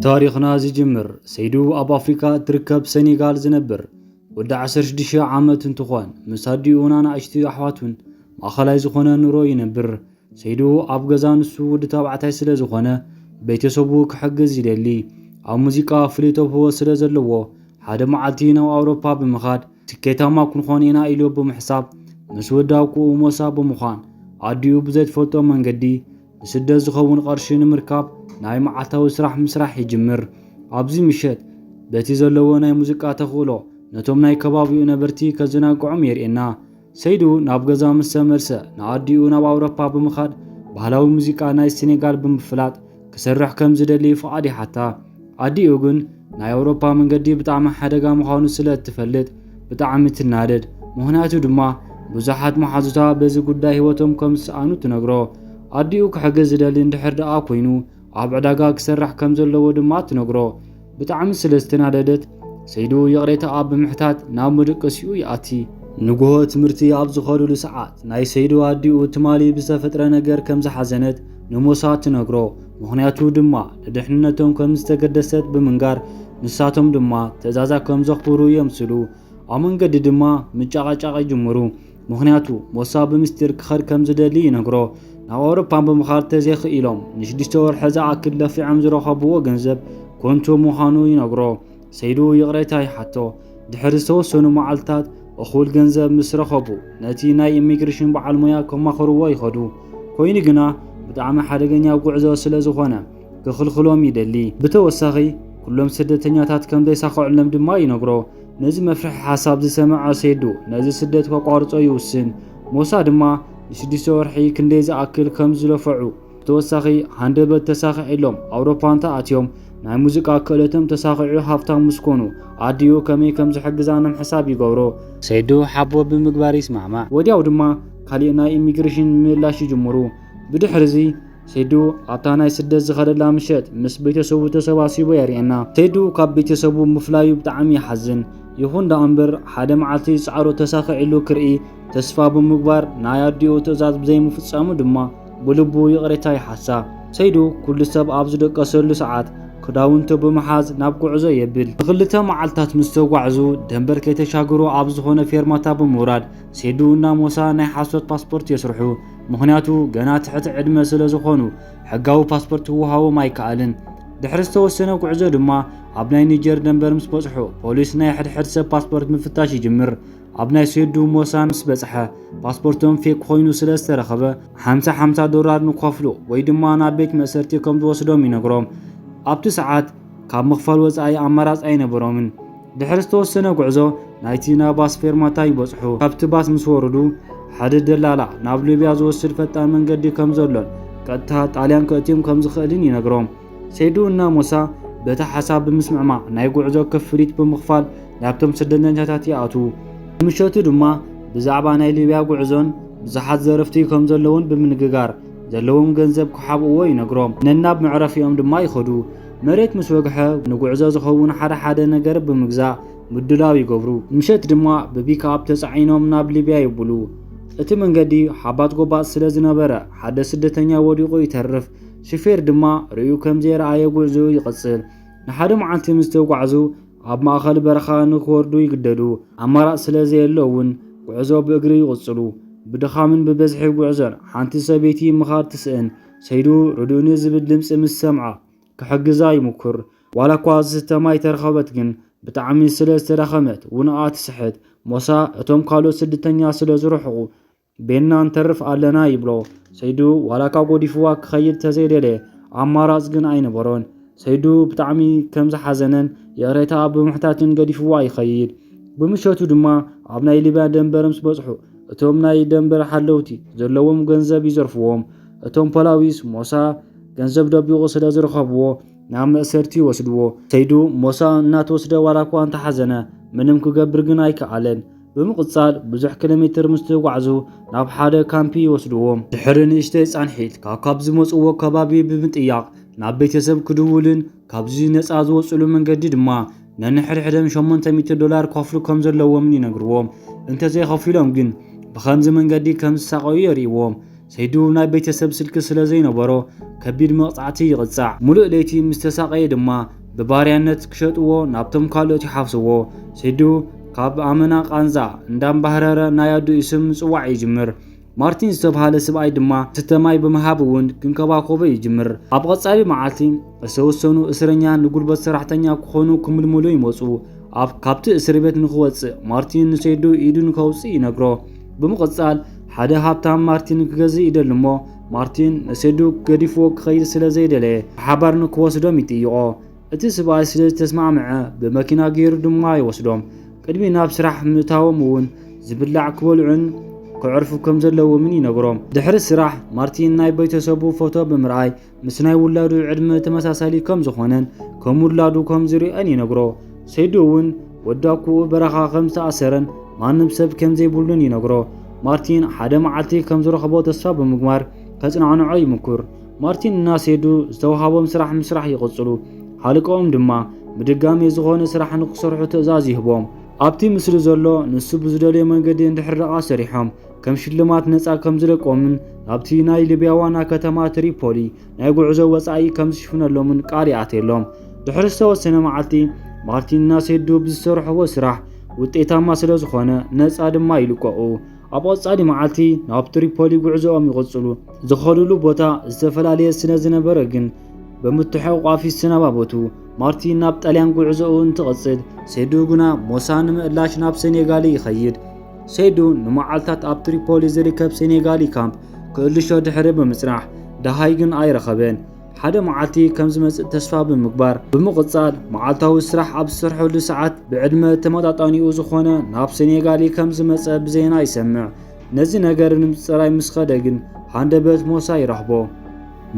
ታሪኽና ዝጅምር ሰይዱ ኣብ ኣፍሪካ እትርከብ ሰኔጋል ዝነብር ወዲ 16 ዓመት እንትኾን ምስ ኣዲኡን ኣናእሽቲ ኣሕዋቱን ማእኸላይ ዝኾነ ኑሮ ይነብር። ሰይዱ ኣብ ገዛ ንሱ ወዲ ተባዕታይ ስለ ዝኾነ ቤተሰቡ ክሕግዝ ይደሊ። ኣብ ሙዚቃ ፍሉይ ተብህቦ ስለ ዘለዎ ሓደ መዓልቲ ናብ ኣውሮፓ ብምኻድ ስኬታማ ክንኾን ኢና ኢሉ ብምሕሳብ ምስ ወዲ ኣብኩኡ ሞሳ ብምዃን ኣዲኡ ብዘይትፈልጦ መንገዲ ንስደት ዝኸውን ቐርሺ ንምርካብ ናይ መዓልታዊ ስራሕ ምስራሕ ይጅምር። ኣብዚ ምሸት በቲ ዘለዎ ናይ ሙዚቃ ተኽእሎ ነቶም ናይ ከባቢኡ ነበርቲ ከዘናግዖም የርእየና። ሰይዱ ናብ ገዛ ምስ ተመልሰ ንኣዲኡ ናብ ኣውሮፓ ብምኻድ ባህላዊ ሙዚቃ ናይ ሴኔጋል ብምፍላጥ ክሰርሕ ከም ዝደሊ ፍቓድ ይሓታ። ኣዲኡ ግን ናይ ኣውሮፓ መንገዲ ብጣዕሚ ሓደጋ ምዃኑ ስለ እትፈልጥ ብጣዕሚ ትናደድ። ምኽንያቱ ድማ ብዙሓት መሓዙታ በዚ ጉዳይ ህይወቶም ከም ዝሰኣኑ ትነግሮ። ኣዲኡ ክሕግዝ ዝደሊ እንድሕር ደኣ ኮይኑ ኣብ ዕዳጋ ክሰርሕ ከም ዘለዎ ድማ ትነግሮ። ብጣዕሚ ስለ ዝተናደደት ሰይዱ ይቕሬታኣ ብምሕታት ናብ ምድቅሲኡ ይኣቲ። ንግሆ ትምህርቲ ኣብ ዝኸዱሉ ሰዓት ናይ ሰይዱ ኣዲኡ ትማሊ ብዝተፈጥረ ነገር ከም ዝሓዘነት ንሞሳ ትነግሮ። ምኽንያቱ ድማ ንድሕንነቶም ከምዝተገደሰት ብምንጋር ንሳቶም ድማ ትእዛዛ ከምዘኽብሩ የምስሉ። ኣብ መንገዲ ድማ ምጨቓጫቕ ይጅምሩ። ምኽንያቱ ሞሳ ብምስጢር ክኸድ ከምዝደሊ ይነግሮ። ናብ ኣውሮፓ ብምኻድ ተዘይኽኢሎም ንሽዱሽተ ወርሒ ዝኣክል ለፊዖም ዝረኸብዎ ገንዘብ ኮንቱ ምዃኑ ይነግሮ። ሰይዱ ይቕሬታ ይሓቶ። ድሕሪ ዝተወሰኑ መዓልትታት እኹል ገንዘብ ምስ ረኸቡ ነቲ ናይ ኢሚግሪሽን በዓል ሞያ ከማኽርዎ ይኸዱ። ኮይኑ ግና ብጣዕሚ ሓደገኛ ጉዕዞ ስለዝኾነ ክኽልኽሎም ይደሊ። ብተወሳኺ ኩሎም ስደተኛታት ከምዘይሳኸዑሎም ድማ ይነግሮ። ነዚ መፍርሒ ሓሳብ ዝሰመዐ ሰይዱ ነዚ ስደት ከቋርጾ ይውስን። ሞሳ ድማ ንሽዱሽተ ወርሒ ክንደይ ዝኣክል ከምዝለፈዑ ብተወሳኺ ሃንደበት ተሳኺዕሎም ኣውሮፓ እንተኣትዮም ናይ ሙዚቃ ክእለቶም ተሳኺዑ ሃፍታም ምስ ኮኑ ኣዲኡ ከመይ ከም ዝሕግዛ ንምሕሳብ ይገብሩ። ሰይዱ ሓቦ ብምግባር ይስማዕማዕ። ወዲያው ድማ ካሊእ ናይ ኢሚግሬሽን ምምላሽ ይጅምሩ። ብድሕሪ'ዚ ሰይዱ ኣብታ ናይ ስደት ዝኸደላ ምሸት ምስ ቤተሰቡ ተሰባሲቡ የርእየና። ሰይዱ ካብ ቤተሰቡ ምፍላዩ ብጣዕሚ ይሓዝን። ይኹን ደኣ እምበር ሓደ መዓልቲ ጻዕሩ ተሳኺዕሉ ክርኢ ተስፋ ብምግባር ናይ ኣዲኡ ትእዛዝ ብዘይምፍጻሙ ድማ፣ ብልቡ ይቕሬታ ይሓሳ። ሰይዱ ኩሉ ሰብ ኣብ ዝደቀሰሉ ሰዓት ክዳውንቱ ብምሓዝ ናብ ጉዕዞ የብል። ንክልተ መዓልትታት ምስ ተጓዕዙ ደንበር ከይተሻገሩ ኣብ ዝኾነ ፌርማታ ብምውራድ ሴዱ እና ሞሳ ናይ ሓሶት ፓስፖርት የስርሑ። ምኽንያቱ ገና ትሕቲ ዕድመ ስለ ዝኾኑ ሕጋዊ ፓስፖርት ክወሃቦም ኣይከኣልን። ድሕሪ ዝተወሰነ ጉዕዞ ድማ ኣብ ናይ ኒጀር ደንበር ምስ በጽሑ ፖሊስ ናይ ሕድሕድ ሰብ ፓስፖርት ምፍታሽ ይጅምር። ኣብ ናይ ስዩዱ ሞሳ ምስ በጽሐ ፓስፖርቶም ፌክ ኮይኑ ስለ ዝተረኸበ ሓምሳ ሓምሳ ዶላር ንክኸፍሉ ወይ ድማ ናብ ቤት መእሰርቲ ከም ዝወስዶም ይነግሮም። ኣብቲ ሰዓት ካብ ምኽፋል ወጻኢ ኣማራጽ ኣይነበሮምን። ድሕሪ ዝተወሰነ ጉዕዞ ናይቲ ናይ ባስ ፌርማታ ይበጽሑ። ካብቲ ባስ ምስ ወረዱ ሓደ ደላላ ናብ ሊብያ ዝወስድ ፈጣን መንገዲ ከም ዘሎን ቀጥታ ጣልያን ከእትዮም ከም ዝኽእልን ይነግሮም። ሴዱ እና ሞሳ በቲ ሓሳብ ብምስምዕማዕ ናይ ጉዕዞ ክፍሊት ብምኽፋል ናብቶም ስደተኛታት ይኣትዉ። ብምሸቱ ድማ ብዛዕባ ናይ ሊብያ ጉዕዞን ብዙሓት ዘረፍቲ ከም ዘለዉን ብምንግጋር ዘለዎም ገንዘብ ክሓብእዎ ይነግሮም። ነናብ መዕረፊኦም ድማ ይኸዱ። መሬት ምስ ወግሐ ንጉዕዞ ዝኸውን ሓደ ሓደ ነገር ብምግዛእ ምዱላው ይገብሩ። ምሸት ድማ ብፒክኣፕ ተጻዒኖም ናብ ሊብያ ይብሉ። እቲ መንገዲ ሓባት ጎባጥ ስለ ዝነበረ ሓደ ስደተኛ ወዲቑ ይተርፍ። ሹፌር ድማ ርእዩ ከም ዘይረኣየ ጉዕዞኡ ይቕጽል። ንሓደ መዓልቲ ምስ ተጓዕዙ ኣብ ማእከል በረኻ ንኽወርዱ ይግደዱ። ኣማራጺ ስለ ዘየሎ እውን ጉዕዞ ብእግሪ ይቕጽሉ። ብድኻምን ብብዝሒ ጉዕዞን ሓንቲ ሰበይቲ ምኻድ ትስእን። ሰይዱ ርድኡኒ ዝብል ድምጺ ምስ ሰምዓ ክሕግዛ ይሙኩር። ዋላ እኳ ዝስተ ማይ ተረኸበት ግን ብጣዕሚ ስለ ዝተዳኸመት ውንኣ ትስሕት። ሞሳ እቶም ካልኦት ስድተኛ ስለ ዝርሕቑ ቤንና ንተርፍ ኣለና ይብሎ ሰይዱ ዋላካ ጎዲፍዋ ክኸይድ ተዘይደለ ኣማራጽ ግን ኣይነበሮን ሰይዱ ብጣዕሚ ከም ዝሓዘነን ይቕሬታ ብምሕታትን ገዲፍዋ ይኸይድ ብምሸቱ ድማ ኣብ ናይ ሊብያ ደንበር ምስ በጽሑ እቶም ናይ ደንበር ሓለውቲ ዘለዎም ገንዘብ ይዘርፍዎም እቶም ፖላዊስ ሞሳ ገንዘብ ደቢቑ ስለ ዝረኸብዎ ናብ መእሰርቲ ይወስድዎ ሰይዱ ሞሳ እናተወስደ ዋላ እኳ እንተሓዘነ ምንም ክገብር ግን ኣይከኣለን ብምቕጻል ብዙሕ ኪሎሜትር ምስ ተጓዕዙ ናብ ሓደ ካምፒ ይወስድዎም። ድሕሪ ንእሽተይ ጻንሒት ካብ ካብ ዝመጽዎ ከባቢ ብምጥያቕ ናብ ቤተሰብ ክድውሉን ካብዚ ነጻ ዝወጽሉ መንገዲ ድማ ነንሕድሕደም ሸሞንተ ሚእቲ ዶላር ክኸፍሉ ከም ዘለዎምን ይነግርዎም። እንተዘይኸፊሎም ግን ብኸምዚ መንገዲ ከም ዝሳቐዩ የርእይዎም። ሰይዱ ናይ ቤተሰብ ስልኪ ስለ ዘይነበሮ ከቢድ መቕጻዕቲ ይቕጻዕ። ሙሉእ ለይቲ ምስ ተሳቐየ ድማ ብባርያነት ክሸጥዎ ናብቶም ካልኦት ይሓፍስዎ። ሰይዱ ካብ ኣመና ቃንዛ እንዳምባህረረ ናይ ኣዱኡ ስም ምጽዋዕ ይጅምር። ማርቲን ዝተብሃለ ስብኣይ ድማ ዝስተ ማይ ብምሃብ እውን ክንከባኮቦ ይጅምር። ኣብ ቐጻሊ መዓልቲ እተወሰኑ እስረኛ ንጉልበት ሰራሕተኛ ክኾኑ ክምልምሉ ይመጹ። ኣብ ካብቲ እስርቤት ንክወጽእ ማርቲን ንሰይዱ ኢዱ ንከውጽእ ይነግሮ። ብምቕጻል ሓደ ሃብታም ማርቲን ክገዝእ ይደሊ እሞ ማርቲን ንሴዱ ገዲፍዎ ክኸይድ ስለ ዘይደለየ ብሓባር ንክወስዶም ይጥይቖ። እቲ ስብኣይ ስለ ዝተስማዕምዐ ብመኪና ገይሩ ድማ ይወስዶም። ቅድሚ ናብ ስራሕ ምእታዎም እውን ዝብላዕ ክበልዑን ከዕርፉ ከም ዘለዎምን ይነግሮም። ድሕሪ ስራሕ ማርቲን ናይ ቤተሰቡ ፎቶ ብምርኣይ ምስ ናይ ውላዱ ዕድመ ተመሳሳሊ ከም ዝኾነን ከም ውላዱ ከም ዝርአን ይነግሮ። ሰይዶ እውን ወዲ ኣኩኡ በረኻ ከም ዝተኣሰረን ማንም ሰብ ከም ዘይብሉን ይነግሮ። ማርቲን ሓደ መዓልቲ ከም ዝረኽቦ ተስፋ ብምግባር ከጽናዕንዖ ይምኩር። ማርቲን እና ሰይዱ ዝተውሃቦም ስራሕ ምስራሕ ይቕጽሉ። ሓልቀኦም ድማ ብድጋሜ ዝኾነ ስራሕ ንክሰርሑ ትእዛዝ ይህቦም። ኣብቲ ምስሊ ዘሎ ንሱ ብዝደልዮ መንገዲ እንድሕር ደኣ ሰሪሖም ከም ሽልማት ነፃ ከም ዝለቆምን ኣብቲ ናይ ሊብያ ዋና ከተማ ትሪፖሊ ናይ ጉዕዞ ወፃኢ ከም ዝሽፍነሎምን ቃል ይኣትየሎም። ድሕሪ ዝተወሰነ መዓልቲ ማርቲንና ሴዱ ብዝሰርሕዎ ስራሕ ውጤታማ ስለ ዝኾነ ነፃ ድማ ይልቀቑ። ኣብ ቐፃሊ መዓልቲ ናብ ትሪፖሊ ጉዕዞኦም ይቕፅሉ። ዝኸዱሉ ቦታ ዝተፈላለየ ስለ ዝነበረ ግን ብምትሕቑቋፍ ይሰነባበቱ። ማርቲን ናብ ጣልያን ጉዕዞኡ እንትቕፅል፣ ሴዱ ግና ሞሳ ንምእላሽ ናብ ሴኔጋል ይኸይድ። ሰይዱ ንመዓልታት ኣብ ትሪፖሊ ዝርከብ ሴኔጋሊ ካምፕ ክእልሾ ድሕሪ ብምጽናሕ ደሃይ ግን ኣይረኸበን። ሓደ መዓልቲ ከም ዝመጽእ ተስፋ ብምግባር ብምቕጻል መዓልታዊ ስራሕ ኣብ ዝሰርሐሉ ሰዓት ብዕድመ ተመጣጣኒኡ ዝኾነ ናብ ሴኔጋሊ ከም ዝመጸ ብዜና ይሰምዕ። ነዚ ነገር ንምጽራይ ምስ ኸደ ግን ሃንደበት ሞሳ ይረኽቦ።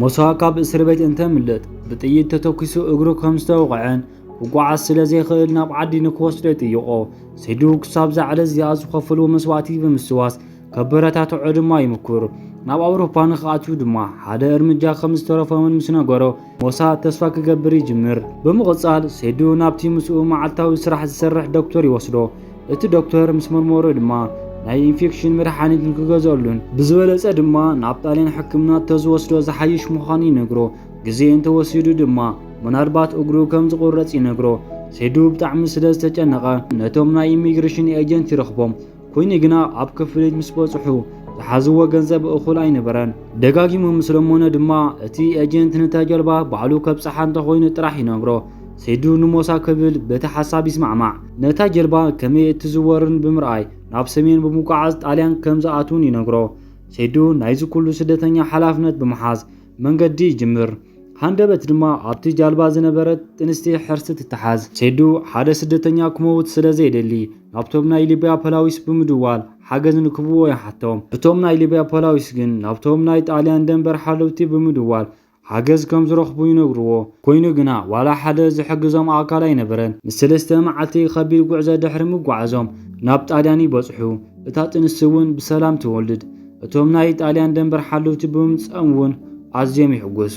ሞሳ ካብ እስርቤት እንተምልጥ ብጥይት ተተኲሱ እግሩ ከም ዝተወቕዐን ክጓዓዝ ስለ ዘይኽእል ናብ ዓዲ ንክወስዶ ይጥይቖ። ስድኡ ክሳብ እዛ ዕለት እዚኣ ዝኸፈልዎ መስዋእቲ ብምስዋስ ከበረታትዖ ድማ ይምኩር። ናብ ኣውሮፓ ንክኣትው ድማ ሓደ እርምጃ ከም ዝተረፎምን ምስ ነገሮ ሞሳ ተስፋ ክገብር ይጅምር። ብምቕጻል ሴዱ ናብቲ ምስኡ መዓልታዊ ስራሕ ዝሰርሕ ዶክተር ይወስዶ። እቲ ዶክተር ምስ መርመሮ ድማ ናይ ኢንፌክሽን መድሓኒት ንክገዝኣሉን ብዝበለጸ ድማ ናብ ጣልያን ሕክምና ተዝወስዶ ዝሓይሽ ምዃኑ ይነግሮ። ግዜ እንተወሲዱ ድማ ምናልባት እግሩ ከም ዝቑረጽ ይነግሮ። ሴዱ ብጣዕሚ ስለ ዝተጨነቐ ነቶም ናይ ኢሚግሬሽን ኤጀንት ይረኽቦም። ኮይኑ ግና ኣብ ክፍሊት ምስ በጽሑ ዝሓዝዎ ገንዘብ እኹል ኣይነበረን። ደጋጊሙ ምስ ለመኖ ድማ እቲ ኤጀንት ነታ ጀልባ ባዕሉ ከብጽሓ እንተኾይኑ ጥራሕ ይነግሮ። ሴዱ ንሞሳ ክብል በቲ ሓሳብ ይስማዕማዕ። ነታ ጀልባ ከመይ እትዝወርን ብምርኣይ ናብ ሰሜን ብምጉዓዝ ጣልያን ከም ዝኣትውን ይነግሮ። ሴዱ ናይዚ ኩሉ ስደተኛ ሓላፍነት ብምሓዝ መንገዲ ይጅምር። ሃንደበት ድማ ኣብቲ ጃልባ ዝነበረት ጥንስቲ ሕርሲ ትተሓዝ። ሴዱ ሓደ ስደተኛ ክመውት ስለ ዘይደሊ ናብቶም ናይ ሊብያ ፖላዊስ ብምድዋል ሓገዝ ንክህብዎ ይሓቶም። እቶም ናይ ሊብያ ፖላዊስ ግን ናብቶም ናይ ጣልያን ደንበር ሓለውቲ ብምድዋል ሓገዝ ከም ዝረኽቡ ይነግርዎ። ኮይኑ ግና ዋላ ሓደ ዝሕግዞም ኣካል ኣይነበረን። ንሰለስተ መዓልቲ ከቢድ ጉዕዞ ድሕሪ ምጉዓዞም ናብ ጣልያን ይበጽሑ። እታ ጥንስቲ እውን ብሰላም ትወልድ። እቶም ናይ ጣልያን ደንበር ሓልውቲ ብምምጽኦም እውን ኣዝዮም ይሕጎሱ።